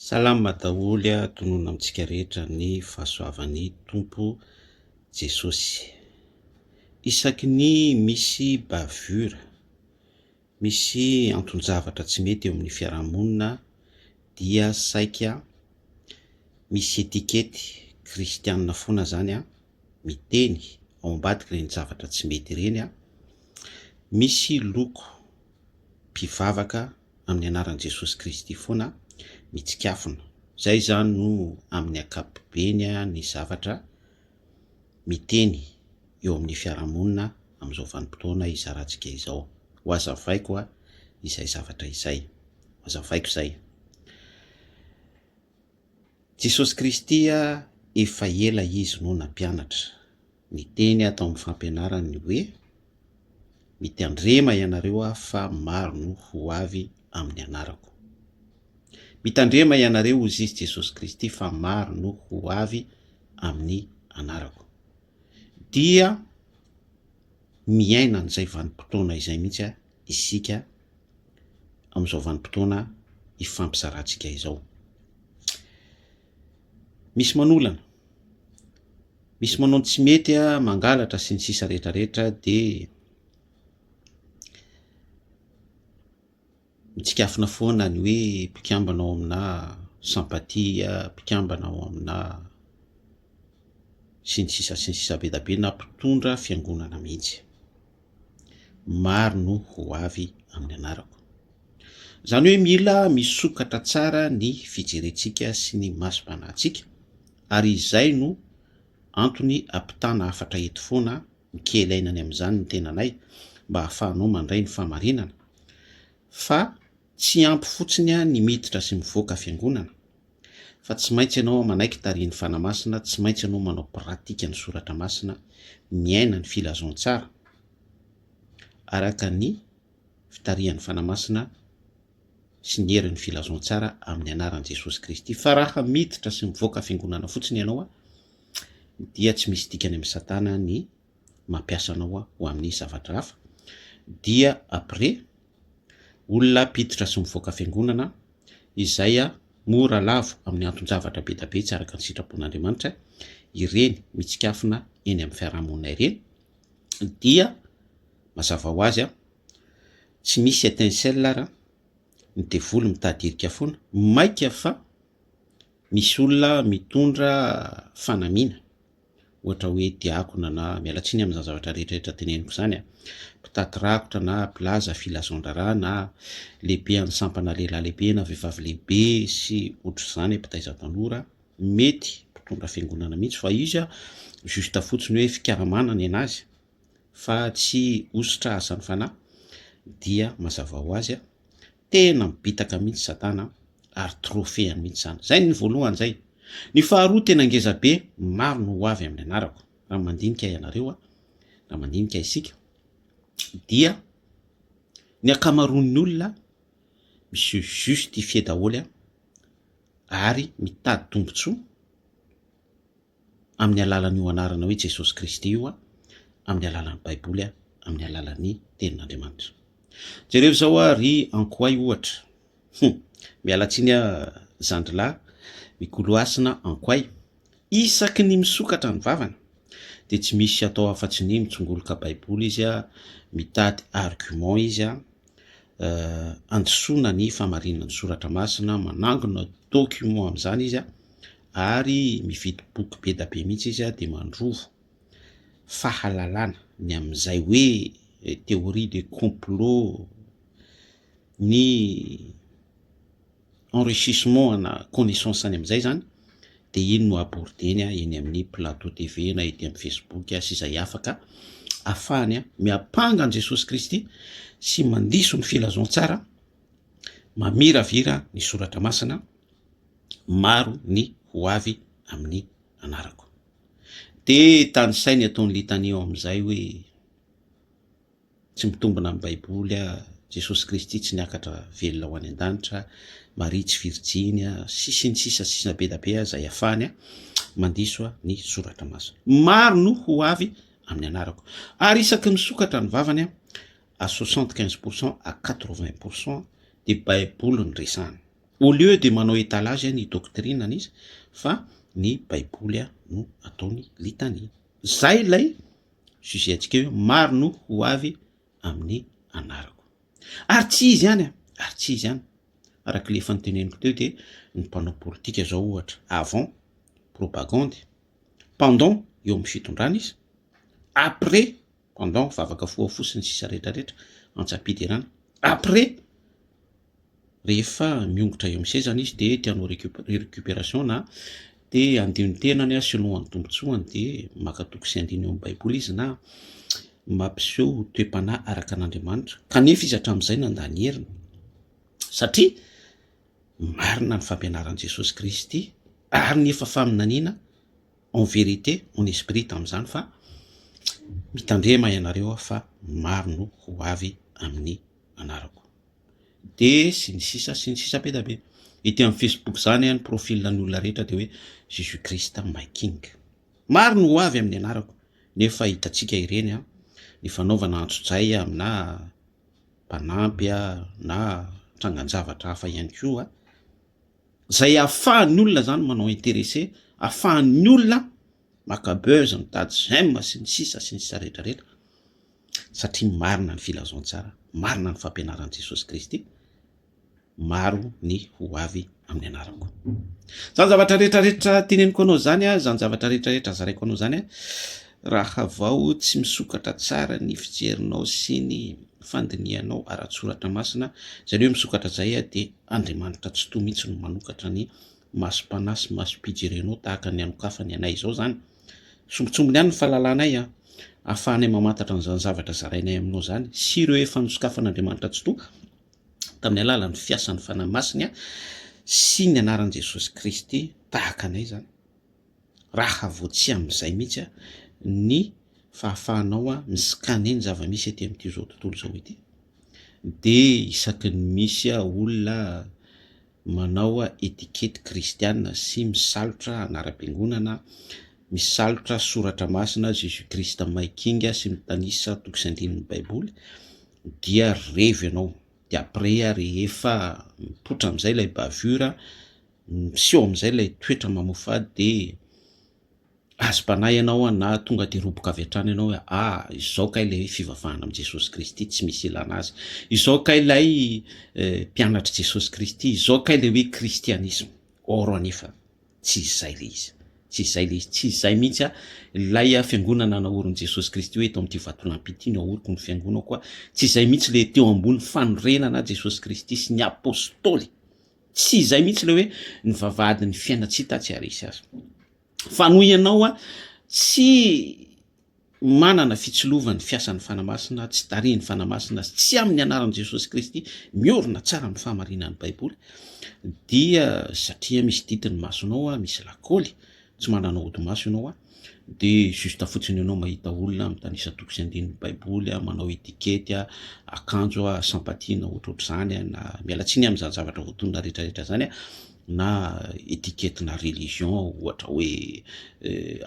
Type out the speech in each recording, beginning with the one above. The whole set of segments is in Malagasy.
Salama daholo a tonona amintsika rehetra ny fahasoavan'ny Tompo Jesosy. Isaky ny misy bavure, misy anton-javatra tsy mety eo amin'ny fiarahamonina dia saika misy etikety kristianina foana izany a, miteny ao ambadika ireny zavatra tsy mety ireny a, misy loko mpivavaka amin'ny anaran'i Jesosy Kristy foana mitsikafona. Izay izany no amin'ny ankapobeny ny zavatra miteny eo amin'ny fiarahamonina amin'izao vanim-potoana izarantsika izao. Ho azavaiko izay zavatra izay. Ho azavaiko izay. Jesosy Kristy efa ela Izy no nampianatra, niteny aho tao amin'ny fampianarany ny hoe, Mitandrema ianareo aho fa maro no ho avy amin'ny anarako. Mitandrema ianareo hozy Izy Jesosy Kristy fa maro no ho avy amin'ny anarako. Dia miaina an'izay vanim-potoana izay mihitsy aho isika amin'izao vanim-potoana ifampizarantsika izao. Misy manolana, misy manao ny tsy mety, mangalatra sy ny sisa rehetra rehetra dia mitsikafona foana ny hoe mpikambana ao amina sympathie, mpikambana ao amina sy ny sisa sy ny sisa be dia be na mpitondra fiangonana mihitsy. maro no ho avy amin'ny anarako. Izany hoe mila misokatra tsara ny fijerentsika sy ny masom-panahintsika ary izay no antony ampitana hafatra eto foana mikely aina any amin'izany ny tenanay mba hahafahanao mandray ny fahamarinana fa tsy ampy fotsiny ny miditra sy mivoaka fiangonana Fa tsy maintsy ianao manaiky tarihin'ny Fanahy Masina, tsy maintsy ianao manao pratika ny Soratra Masina, miaina ny filazantsara araka ny fitarihan'ny Fanahy Masina sy ny herin'ny filazantsara amin'ny anaran'i Jesosy Kristy. Fa raha miditra sy mivoaka fiangonana fotsiny ianao dia tsy misy dikany amin'i Satana ny mampiasa anao ho amin'ny zavatra hafa dia après olona mpiditra sy mivoaka fiangonana izay mora lavo amin'ny anton-javatra be dia be tsy araka ny sitrapon'Andriamanitra ireny mitsikafona eny amin'ny fiarahamonina ireny dia mazava ho azy tsy misy étincelle ary ny devoly mitadirika foana maika fa misy olona mitondra fanamiana ohatra hoe diakona na, miala tsiny amin'izany zavatra rehetrarehetra teneniko izany a, mpitaky rakotra na mpilaza filazandraraha na lehibean'ny sampana lehilahy lehibe na vehivavy lehibe sy ohatr'izany, mpitaiza tanora, mety mpitondra fiangonana mihitsy fa izy a juste fotsiny hoe fikaramana ny anazy fa tsy hositrasan'ny fanahy dia mazava ho azy a. Tena mibitaka mihitsy satana ary trophée mihitsy zany. Zay ny voalohany zay. Ny faharoa tena ngeza be, maro no ho avy amin'ny anarako. Raha mandinika ianareo, raha mandinika isika dia ny ankamaroan'ny olona mi se justifier daholo ary mitady tombotsoa. amin'ny alalan'io anarana hoe Jesosy Kristy io aho, amin'ny alalan'ny Baiboly aho, amin'ny alalan'ny Tenin'Andriamanitra. Jereo izao aho ry Ankoay ohatra. Hum, miala tsiny aho zandrilahy mikoloasina Ankoay. Isaky ny misokatra ny vavany dia tsy misy atao afa-tsy ny mitsongoloka Baiboly izy, mitady argument izy. handisoana ny fahamarinana ny soratra masina, manangona document amin'izany izy ary mividy boky be dia be mihitsy izy dia mandrovo fahalalana ny amin'izay hoe théorie du complot ny enrichissement ana connaissance any amin'izay zany dia iny no abordeny eny amin'ny plateau TV na ety amin'ny Facebook sy izay hafa ka afahany miampanga an'i Jesosy Kristy sy mandiso ny filazantsara mamiravira ny soratra masina maro ny ho avy amin'ny anarako dia tanisainy ataon'ny litania ao amin'izay hoe Tsy mitombina amin'ny Baiboly a! Jesosy Kristy tsy niakatra velona ho any an-danitra a! Maria tsy virjiny a! sy sy ny sisa sy sisa be da be aza iafahany a! Mandiso a! ny Soratra Masina. Maro no ho avy amin'ny anarako. Ary isaky misokatra ny vavany a! à soixante quinze pour cent à quatre vingt pour cent dia Baiboly no resahany. Au lieu dia manao étalage a! ny doctrine-ny izy fa ny Baiboly a! no ataony litania. Zay ilay sujet antsika io maro no ho avy amin'ny anarako ary tsy izy ihany a ary tsy izy ihany araka le efa noteneniko teo dia ny mpanao politika zao ohatra avant propagande pendant eo amin'ny fitondrana izy après pendant vavaka foha foha sy ny sisa rehetra rehetra antsa-piderana après rehefa miongotra eo amin'ny sezany izy dia te hanao recuperation na te handio ny tenany sy hinoa ny tombontsoany dia maka toko sy andininy eo amin'ny baiboly izy na mampiseho toe-panahy araka an'Andriamanitra kanefa izy hatramin'izay nanda ny heriny satria marina ny fampianaran'i Jesosy Kristy ary ny efa faminaniana en vérité en esprit tamin'izany fa mitandrema ianareo aho fa maro no ho avy amin'ny anarako dia sy ny sisa sy ny sisa be dia be ety amin'ny facebook izany ny profil ny olona rehetra dia hoe jesus christ my king maro ny ho avy amin'ny anarako nefa hitantsika ireny an ny fanaovana antsojay amina mpanampy a na trangan-javatra hafa ihany koa izay ahafahan'ny olona izany manao interese ahafahan'ny olona maka buzz, mitady j'aime sy ny sisa sy ny sisa rehetra rehetra satria marina ny filazantsara, marina ny fampianaran'i Jesosy Kristy, maro ny ho avy amin'ny anarako. Zany zavatra rehetra rehetra teneniko anao zany, zany zavatra rehetra rehetra zaraiko anao zany, raha vao tsy misokatra tsara ny fijerinao sy ny fandinihanao ara-tsoratra masina, izany hoe misokatra izay dia Andriamanitra tsy toa mihitsy no manokatra ny masom-panahy sy masom-pijerenao tahaka ny anokafany anay izao izany. Sombintsombiny ihany ny fahalalanay ahafahanay mamantatra an'izany zavatra zarainay aminao izany sy ireo efa nosokafan'Andriamanitra Tsitoha tamin'ny alalan'ny fiasan'ny Fanahy Masiny sy ny anaran'i Jesosy Kristy tahaka anay izany. Raha vao tsy amin'izay mihitsy ny fahafahanao miskane ny zava-misy ety amin'ity izao tontolo izao ity dia isaky ny misy olona manao etikety kristiana sy misalotra anaram-piangonana, misalotra soratra masina Jésus Christ May King sy mitanisa toko sy andininy baiboly dia revy ianao dia après rehefa mipoitra amin'izay ilay bavure miseho amin'izay ilay toetra mamoafady dia Azo panahy ianao an na tonga de roboka avy hatrany ianao hoe ah izao kay ilay hoe fivavahana amin'i Jesosy Kristy tsy misy ilana azy, izao kay ilay mpianatr'i Jesosy Kristy, izao kay ilay hoe kristianisma. Or anefa tsy izay ilay izy, tsy izay ilay izy, tsy izay mihitsy an, ilay fiangonana naorin'i Jesosy Kristy hoe eto amin'ity vatolampy ity no aoriko ny fiangonako an, tsy izay mihitsy ilay teo ambony fanorenana Jesosy Kristy sy ny apostoly. Tsy izay mihitsy ilay hoe ny vavahadin'ny fiainantsika tsy haharesy azy. Fa noho ianao a, tsy manana fitsilovan'ny fiasan'ny Fanahy Masina, tsy tarihin'ny Fanahy Masina, tsy amin'ny anaran'i Jesosy Kristy, miorina tsara amin'ny fahamarinan'ny Baiboly, dia satria misy didy ny masonao a, misy lakôly, Tsy manana ody maso ianao a! dia juste fotsiny ianao mahita olona mitanisa toko sy andininy baiboly a, manao etikety a, akanjo a, sympathie na ohatrohatr'izany a, na miala tsiny amin'izany zavatra voatonona retraretra zany a, na etikety na religion ohatra hoe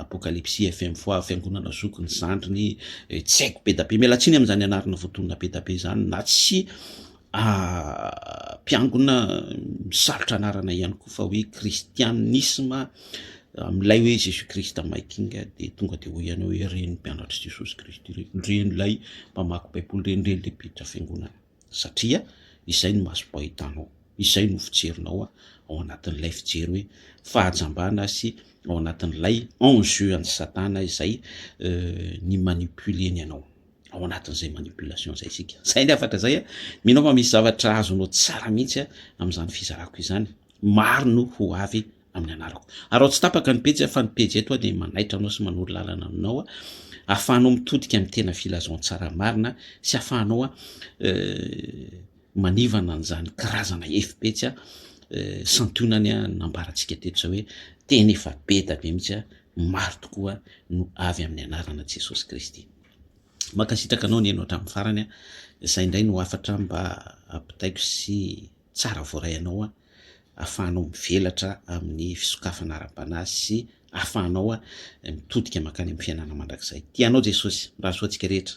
apokalipsy fm foi fiangonana zoky ny zandriny tsy haiko be da be, miala tsiny amin'izany anarana voatonona be da be zany na tsy mpiangona misarotra anarana ihany koa fa hoe kristianisma amin'ilay hoe Jésus Christ my king dia tonga dia hoy ianao hoe reny mpianatry Jesosy Kristy reny, reny ilay mpamaky baiboly reny, reny ilay mpiditra fiangonana satria izay no masom-po ahitanao, izay no fijerinao ao anatin'ilay fijery hoe fahajambana sy ao anatin'ilay enjeu an'i satana izay euh, ny manipuleny anao. ao anatin'izay manipulation izay isika zay ny afaka zay a mino fa misy zavatra azonao tsara mihitsy a amin'izany fizarako izany maro no ho avy amin'ny anarako ary ao tsy tapaka ny pejy fa ny pejy eto a dia manaitra anao sy manoro lalana aminao a ahafahanao mitodika amin'ny tena filazon tsara marina sy ahafahanao a euh, manivana an'izany karazana efipetsy a euh, santionany a nambarantsika teto zay hoe tena efa be da be mihitsy a maro tokoa no avy amin'ny anarana jesosy kristy Mankasitraka anao nihaino hatramin'ny farany a! Izay indray no hafatra mba ampitaiko sy tsara voaray anao ahafahanao mivelatra amin'ny fisokafana ara-panahy sy ahafahanao mitodika mankany amin'ny fiainana mandrakizay. Tia anao Jesosy. Mirary soa antsika rehetra.